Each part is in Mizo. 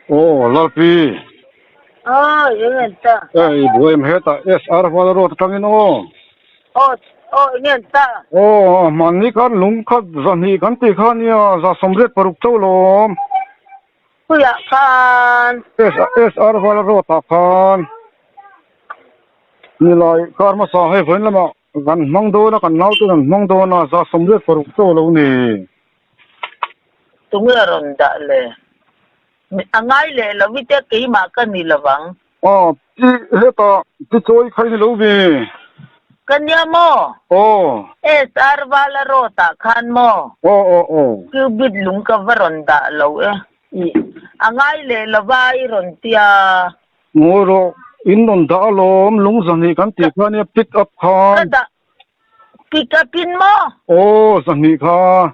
Aw Lalpi aw eng en ta aw i buai em heta SR Huala road atangin aw aw aw eng en ta aw mahni khan lung khat zahnih kan tih khan nia zahsawm riat paruk chauhlawm. Khuiah khan. SR Hmalarawtah khan nilai kar hmasa hei vawiin lamah kan hmang dawn a, kan naute'n an hmang dawn a, za sawmriat paruk chaw lo ni. Tunge a rawn dah le? A ngai leh lo ite keimah ka ni lovang. Aw, i heta ti chawi kha i ni lo ve. Ka nia maw? Aw. SR Vala rawt ah khan maw? Aw aw aw. Cubit lung ka va rawn dah lo e. I, a ngai leh lo va i rawn ti a. Ngawi rawh, in rawn dah a lawm, lung zahnih kan tih kha nia, pick up khan. Ka dah, pick up in maw? Aw, zahnih kha.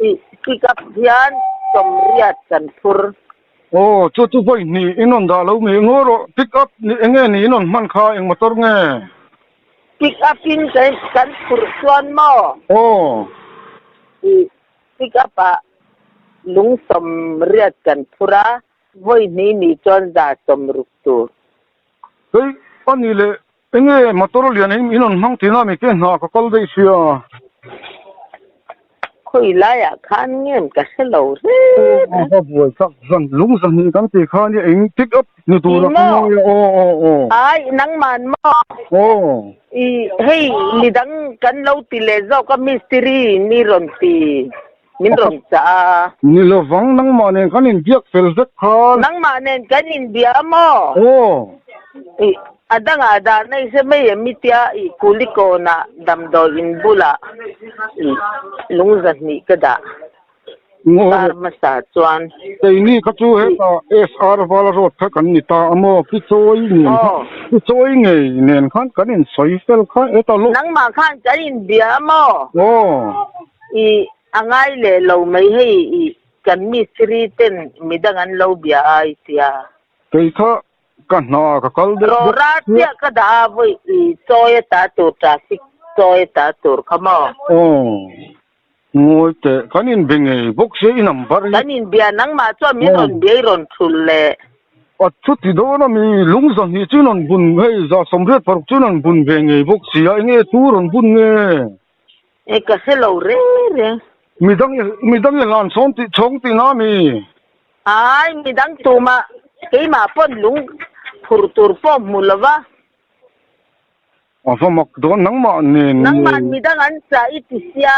I pick up hian sawmriat kan phur. Aw, chutu vawi hni i nawn dah lo mi engaw rawh, pick up nih enge ni i nawn hman kha, eng motor nge? Pick up in kan phur chuan maw? Aw. I pick up ah lung sawmriat kan phur a, vawi hni ni chuan za sawm ruk tur. Kei a ni le. Enge motor a lian in an hmang tihna mi te hna ka kal daih sia. Khawi laiah khan ngen ka hre lo hrep a. Ka buai chak zan lung zahnih kan ti khan i eng pick up ni tur a ka ngawi a aw aw aw. Aih nangman maw? Aw. I hei midang kan lo ti leh zawk a mistiri ni rawn ti. Min rawn chah a. Ni lovang, nangmah nen kan inbiak fel vek kha. Nangmah nen kan inbia maw? Aw. Ih, a dangah dah na i se mai em i tia i Kulikawn ah damdawi in bulah i lung zahnih ka dah. Par hmasa chuan. Keini kha chu heta SR Valarot kha kan ni ta a maw? Pichawi nen kha. Aw. Pichawi ngei nen khan kan insawi fel kha. Heta lo. Nangmah khan kan inbia maw? Aw. I a ngai leh lo mai hei i, kan mistri ten mi dang an lo bia a i tia. Kei kha ka hna ka kal deuh deuh. Rawra chiah ka dah a vawi i, chawi a ta tur traffic chawi a ta tur kha maw. Aww ngawi teh kan in bia ngei bawk se i number hi. Kan in bia nangmah chuan min rawn bia i rawn hrul le. A thu ti dawn a mi lung zahnih chu in rawn bun hei zah sawmriat paruk chu in rawn bun ve ngei bawk sia enge thu rawn bun nge. e ka hre lo reng reng. Midang i midang i hlan chhawng tih chhawng tih na mi. Ai midang tuma keimah pawn lung phur tur pawh hmu lo va. A va mak dawn nangmah nen ni. Nangmah midang an chah i ti sia.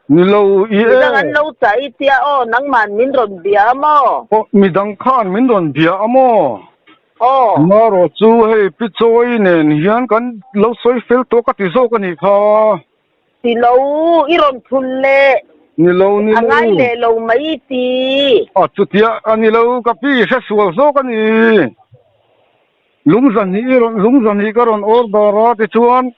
Ni lo i e. Midang an lo chah i tia aw nangmah min rawn bia a maw. Aw midang khan min rawn bia a maw. Maraw chu hei Pi Chawi nen hian kan lo sawi fel tawh ka ti zawk a ni kha. Ti lo, i rawn thlun le. Ni lo, ni lo. A ngai leh lo mai i ti. A chutia a ni lo, ka pi i hre sual zawk a ni. Lungza hnih i rawn, lungza hnih ka rawn order a ti chuan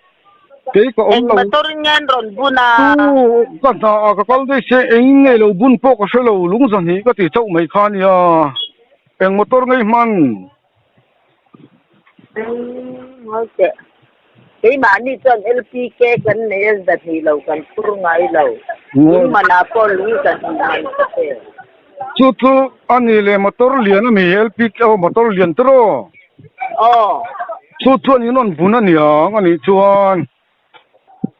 kei ka awm lo. Eng motor in nge an rawn bun a? Chu ka hna ah ka kal daih se, eng nge lo bun pawh ka hre lo, lungza hnih ka ti chauh mai kha a nia. Eng motor ngei hman? Eng hau teh. Keimahni chuan LPK kan nei a za hnih lo, kan phur ngai lo. Lung manah pawh lung za hnih a ang kha teh. Chu chu a ni le, motor lian a mi LPK ho motor lian te rawh. Aw. Chu chuan in rawn bun a niang a nih chuan.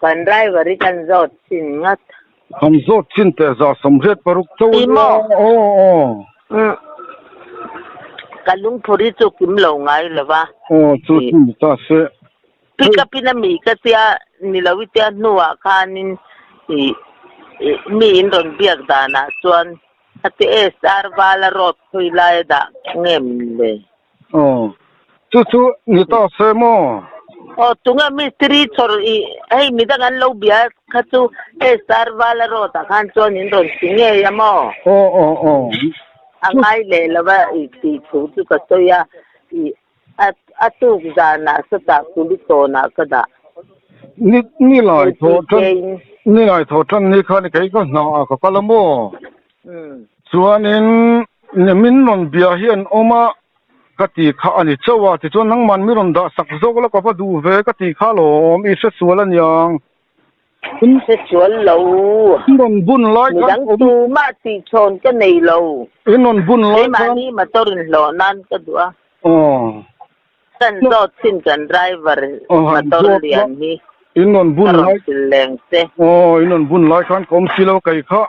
Kan raivari kan zawt chin ngat. Kan zawt chin teh za sawm riat paruk chau a nia. Aw aw. Ka lungphur hi chu kim lo ngai lo va. Aw chu chu ni ta se. Pick up in a mi ka tia ni lo i tia hnu ah khan in mi in rawn biak dan ah chuan hetieh star vala road khawi lai a dah ngem le. Aw, chu chu ni ta se maw? Aw, tunga mistri chhawr ih hei mi dang an lo bia kha chu hei Sarvala road ah khan chuan in rawn ti ngei a maw? Aw aw aw. A ngai leh lo va i tih thu chu ka sawi a, ih a a tuk zanah satah kuli tawnah ka dah. Ni ni lai thaw than, ni lai thaw than ni khan kei ka hnah ah ka kal a maw? Umm. Chuanin, Ni min rawn bia hi an awm a ka tih kha a ni chauh a, tichuan nangman min rawn dah sak zawk la ka va duh ve ka tih kha lawm i hre sual a niang. Min hre sual lo. In rawn bun lai khan. Midang chu mah tihchhawn ka nei lo. In rawn bun lai khan. Keimahni motor in hlawh nan ka duh a. Aww. Kan zawt chin kan driver motor lian hi. In rawn bun lai. Ka rawn sil leng che. Aww, in rawn bun lai khan ka awm si lo kei khah.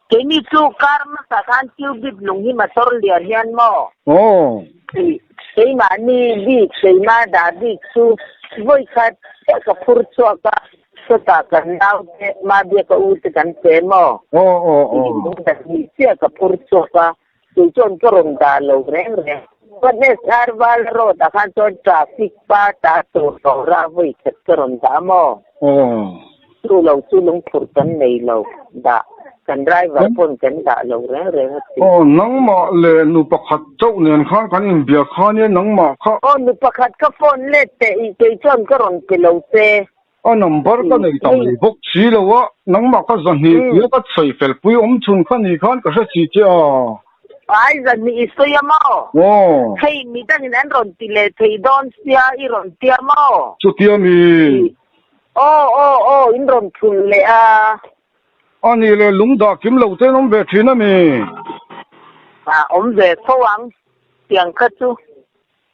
Keini chu car hmasa khan Cubit lung hi motor lian hian maw? Aww. Keimahni bik keima dah bik chu vawi khat chiah ka phur chhuak a, sawtah kan nau te, ma biaka ute kan pe maw? Aww aww aww. Dah bik chiah ka phur chhuak a. Kei chuan ka rawn dah lo reng reng. Godless Arvala Road ah khan chuan traffic part ah tur boruak vawi khat ka rawn dah maw. Chu lo chu lungphur kan nei lo. Dah kan driver pawn kan dah lo reng reng a si. Aw nangmah leh nu pakhat chauh nen khan kan inbiak kha nia nangmah kha. Aw nu pakhat ka phone let teh i kei chuan ka rawn pe lo se. A number ka nei ta mai bawk si lo a, nangmah kha zahnih pia ka sawi fel pui awm chhun kha ni khan ka hre si che a. Ai zahnih i sawi a maw? Hei mi dangin an rawn ti leh theih dawn sia i rawn ti a maw? Chutia mi? Aw aw aw in rawn thlul leh a. A ni le, lung dah kim lo te'n awm ve thin a mi? Awm ve fo ang, tiang kha chu.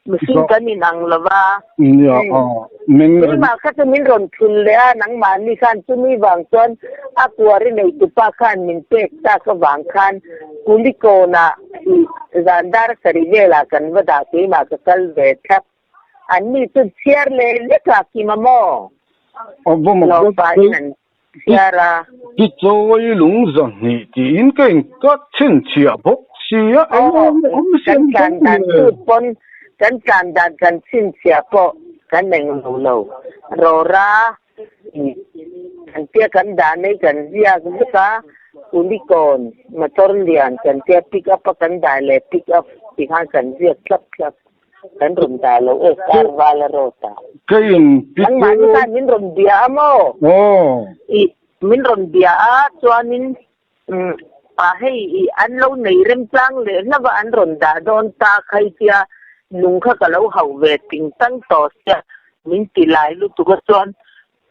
Mihring kan in ang lo va. Nia a, min. Keimah kha chu min rawn thlun leh a, nangmah ni khan chumi vang chuan a kuari nei tupa khan min pek tak avang khan Kulikawng ah hi zan dar a sarih velah kan va dah keimah ka kal ve thlap. Anni chu chhiar leh lek a kim a maw? Naupa in an. Zara. Hi chawi lungza hnih tiin ka in cut chhin chhiah bawk sia eng a awm awm nasa ang kan tlan dan chu pawn kan tlan dan kan chhin chhiah pawh kan nen lo lo rawra kan tia kan dan ai kan ziak zuk a unicorn motor lian kan tia pick up a kan dai leh pick up tikhan kan ziak thlap thlap. Kan rawn ta lo e, Karvala Road ah. Ka in pi chu. Nangmah ni khan min rawn bia a maw? Aw. I, min rawn bia a, chuanin umm pa hei i an lo nei remchang leh hlauh a, an rawn dah dawn ta khai sia, nung kha ka lo hauh ve ting tang tawh sia, min ti lai lutuk a chuan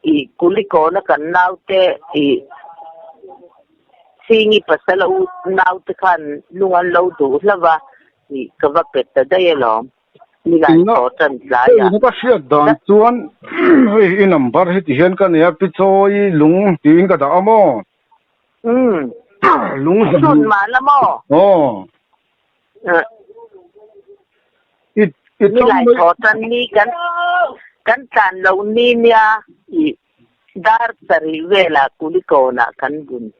I Kulikawna kan naute i Singi pasal a ut naute khan lung an lo duh hlova i ka va pet ta daih alawm. Milan Chaw Tantlai a. Ka ka hriat dan chuan hei i number hi ti hian ka nei a, Pichawi Lung tiin ka dah a maw? Umm. Lung. Sawn mahna maw? Aw. Nilai thaw tan ni kan kan tlan lo ni nia i dar sarih vela kulikawn ah kan bun.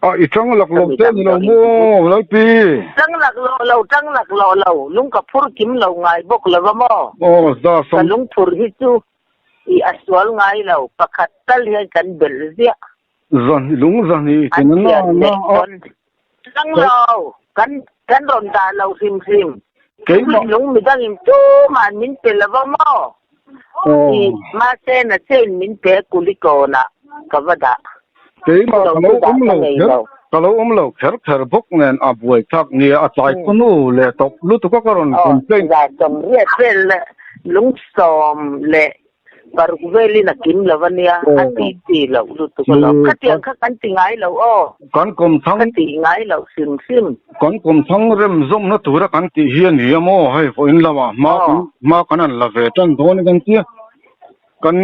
Ah i tang lak lo te ni lo maw Lalpi? Tang lak loh lo tang lak loh lo, lung ka phur kim lo ngai bawk lo va maw? Aw za sam. Ka lungphur hi chu i a sual ngai lo pakhat tal hian kan belh ziah. Zahni lung zahni i ken a na na a. Tlang lo, kan kan rawn dah lo hrim hrim. Keimah. Lung mi dang in tum ah an min pe lo va maw? Tih mahse na che in min pe a kuli kawn ah ka va dah. Keimah ka lo awm lo kher ka lo awm lo kher kher bawk nen a buai thlak nia a tlai pawh nu leh tawp lutuk a ka rawn complain. Zah sawm riat vel lungsawm leh Paruk velin a kim lo ania a ti ti loh lutuk alawm. Khatiang kha kan ti ngai lo aw. Kan kawm thang. Ka ti ngai loh hrim hrim. Kan kawm thang rem zawmna tura kan tih hi ani a maw hei vawiin lamah hma kan hma kan han la ve tan dawn kan tia kan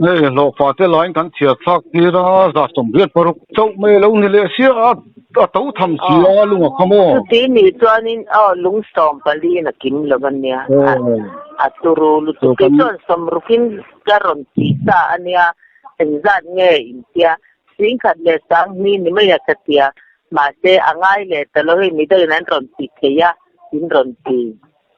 hei hlawhfate laiin kan chhiarthlak tir a zat sawm viat paruk chauh mai alo ni leh sia a. A to tham si a, a lung a kham aw. Chutih nih chuanin aw lung sawm paliin a kim lo a nia. A turu lutuk hi chuan sawm rukin ka rawn ti sa a nia, engzat nge in tia, Sing khat leh sang hmi ni mai a ka tia, mahse a ngai leh ta lo hei midang in an rawn ti thei a, in rawn ti.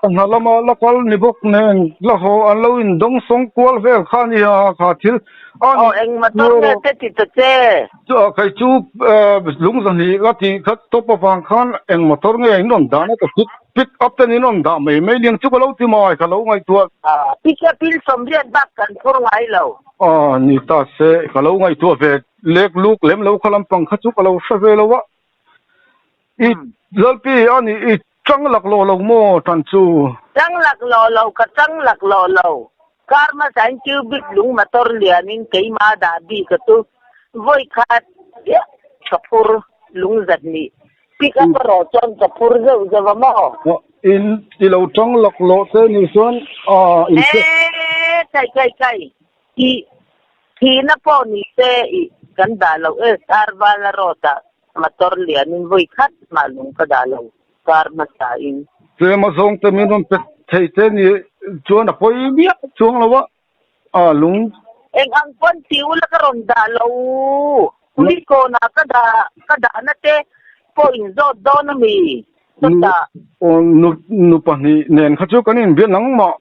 Ka hnah lama la kal ni bawk nen la haw an lo in dawng sawng kual vel kha ni ha ha kha thil a ni. Aw eng motor nge te ti ta che? Chuah kei chu lung zahnih la tih khat tawp avang khan eng motor nge in rawn dah na ka pick pick up ten in rawn dah mai mai liang chu ka lo ti mai ka lo ngaihtuah. Aw pick up in sawmriat bak kan phur ngai lo. Aw ni ta se ka lo ngaihtuah ve lek luk lem lo kha lampang kha chu ka lo hre ve lo a i Lalpi a ni i. Chang lak lo lo maw tan chu? Chang lak lo lo ka chang lak lo lo. Karma zain cubic lung motor lian in keima dah bik a tu. Vawi khat viah ka phur lung zat nih. Pick up a rawh chuan ka phur zeuh zeuh a maw. In i lo chang lak lo te nih chuan ah. Eii kai kai kai. Thi, thihna pawh ni se i kan dah lo e, Star Bala Road ah motor lian in vawi khat mah lung ka dah lo, car hmasa in. Tlem a zawng te min rawn pe thei te ni chuan a pawi miah chuang lo a, a lung. Eng ang pawn ti ula ka rawn dah lo, Police kawn ah ka dah, ka dah na te pawh in zawt dawn a mi, sawtah. Nu, nu pahnih nen kha chu kan in bial nangmah.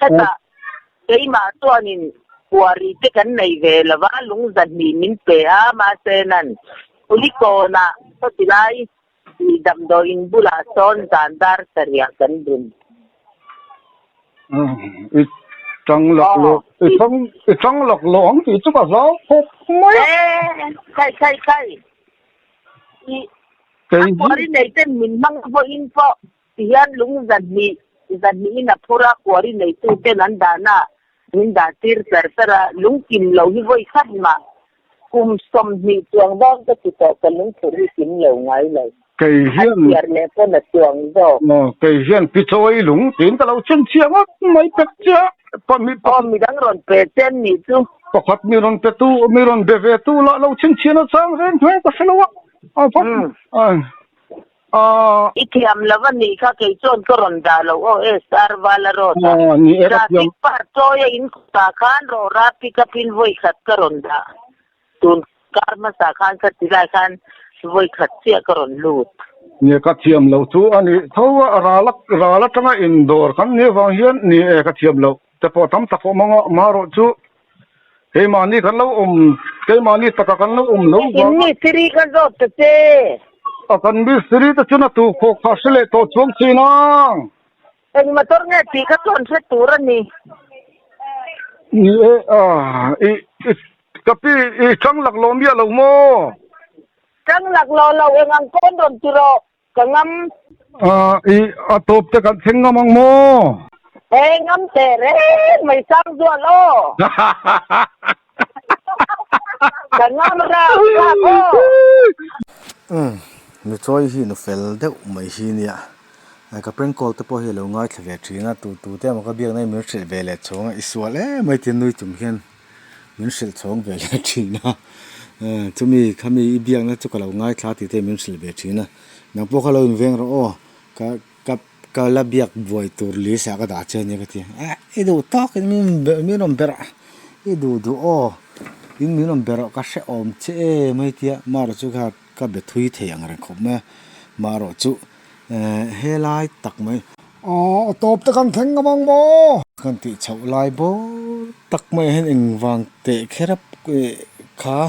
Hetah keimah chuanin puari te kan nei ve lova, lung zahnih min pe a, mahse nan Pulicawnah khawtilai ih damdawi in bulah sawn zan dar sarih kan bun. I tang lak lawk, i tang, i tang lak lawk ang tih chu ka zau phawk mai a. Khai, khai, khai. I a puari neite'n min hmang vawiin pawh Tihian lung zahnih zahnihin a phur a, kuari neitu ten an dahnaah min dah tir tar tar a, lungkim lo hi vawi khat mah, kum sawmhnih chuang vang ka ti tawh ka lungphurh hi kim lo ngai lo, an thiar leh pawn a chuang zawk. Kei hian pi chawi lung tiin ka lo chen chhia ngawt mai pek che a, pa mi pa. Aw midang rawn pe che an nih chu. Pakhat mi rawn pe tu mi rawn be ve tu lah lo chen chhian a chang reng hmel ka hre lo a, a va. Aww, i thiam lo a nih kha kei chuan ka rawn dah lo aw e star vala road ah traffic part chawi a in kawtah khan rawhra pick up in vawikhat ka rawn dah tun kar hmasa khan ka ti lai khan vawikhat chiah ka rawn lut. Ni ka thiam lo chu a nih tho a ral a ral atanga in dawr kan ni avang hian ni e ka thiam lo. Te pawh tam tak awm ang a, mah erawh chu keimahni kan lo awm, keimahni takah kan lo awm lo vang a. Nikin Mistiri ka zawt ta che. A kan Mistiri te chun a tu khawh kha hre leh tawh chuang chin ang. Eng motor nge tih ka chuan hre tur a ni. Ni e, ah, i, i, ka pi, i chang laklawm miah lo maw? Chang laklawm lo, eng ang pawn rawn ti rawh. Ka ngam. Ahh ih a tawp te kan thleng ngam ang maw? He ngam teh reng mai sang duah law. Ka ngam rang rang aw. Umm nu chawi hi nu fel deuh mai hi nia. Ahh ka prank call te pawh hi a lo ngaithla ve thin a, tu tu te emaw ka biakna i mir hreh ve leh chhawng a, i sual emai tia nui chung hian. Min hrilh chhawng ve hle thin a, chumi kha mi i biakna chu ka lo ngaithla tih te min hrilh ve thin a, nang pawh kha lo inveng rawh aw, ka ka ka la biak buai tur lisa ka dah che ania ka ti a, eh i duh tawk in min min rawn ber ah i duh duh aw in min rawn ber aw ka hre awm che e mai tia, Maru chu kha Ka be thui thei ang reng khawp mai a, mah rawh chu eeh helai tak mai. Aw a tawp te kan thleng ngam ang maw? Kan tih chhoh lai bawr tak mai ahin engvang teh kherap kha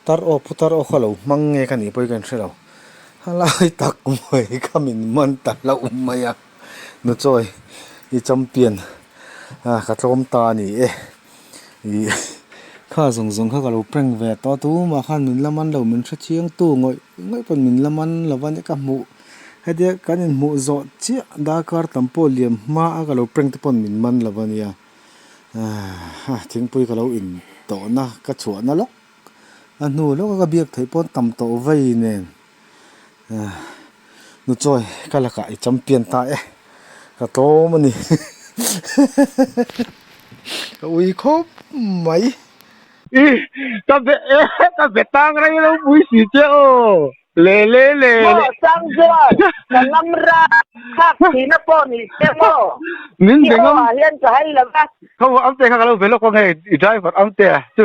tar aw phu tar aw kha lo hmang nge ka nih pawh hi ka in hre lo. Helai tak mai ka min man ta hlauh mai a. Nu chawi i champion a ka tlawm ta a ni e ih kha zawng zawng kha ka lo prank ve tawh a tum ah khan min la man lo min hre chiang tu ngawih ngawih pawn min la man lo va ni ka hmuh hetia kan in hmuh zawh chiah darkar tam pawh liam hma a ka lo prank te pawh min man lo va nia a thingpui ka lo in tawh na ka chhuah na lawk a hnu lawk a ka biak theih pawh tam tawh vai nen. Nu chawi ka lakah i champion ta e, ka tlawm a ni ka ui khawp mai. I ka be e ka be tang rei lo pui si che aw le le le le. Maw Changchuan ka ngam ra khak si na pawh ni che maw min be ngam. Hi aw ah hian ka hai lo va. Ka va amte kha ka lo be lawk ang hei i driver amte chu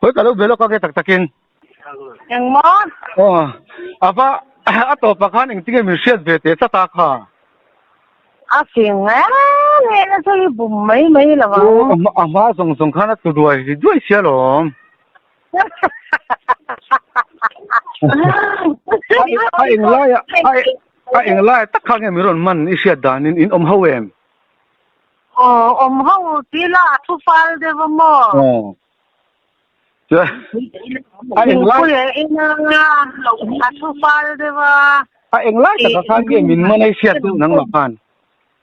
Hawi ka lo be lawk a nge tak takin engmaw aw ava a tawpah khan engtinge min hriat ve teh tlat a kha a fing nge nge na chu hi bum mai mai lo ang a hma zawng zawng khan a tu duai duai sial awm. a eng lai a a eng lai tak kha nge min rawn man i hriat dan in in awm ho em aw awm ho ti la a thu fal deuh a maw aw chuan a eng lai pui eh in anga a thu fal deuh a a eng lai tak kha nge min man i hriat deuh nang lo khan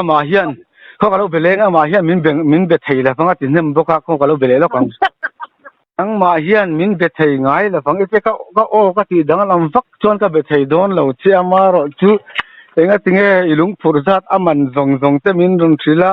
amah hian khaw ka lo be leh amah hian min beng min be thei la vang a ti hnem bawk a khaw ka lo be leh lawk ang nangmah hian min be thei ngai la vang ipui ka ka aw ka tih dang lam vak chuan ka be thei dawn lo che a marawh chu engatinge i lungphur zat a man zawng zawng te min rawn hrilh a.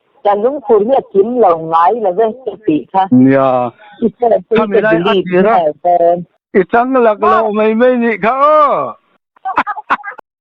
Kan lungphur hi a kim lo ngai lo ve ka tih kha. Nia, khami lai a tir a. I chang lak lo mai mai nih kha aw.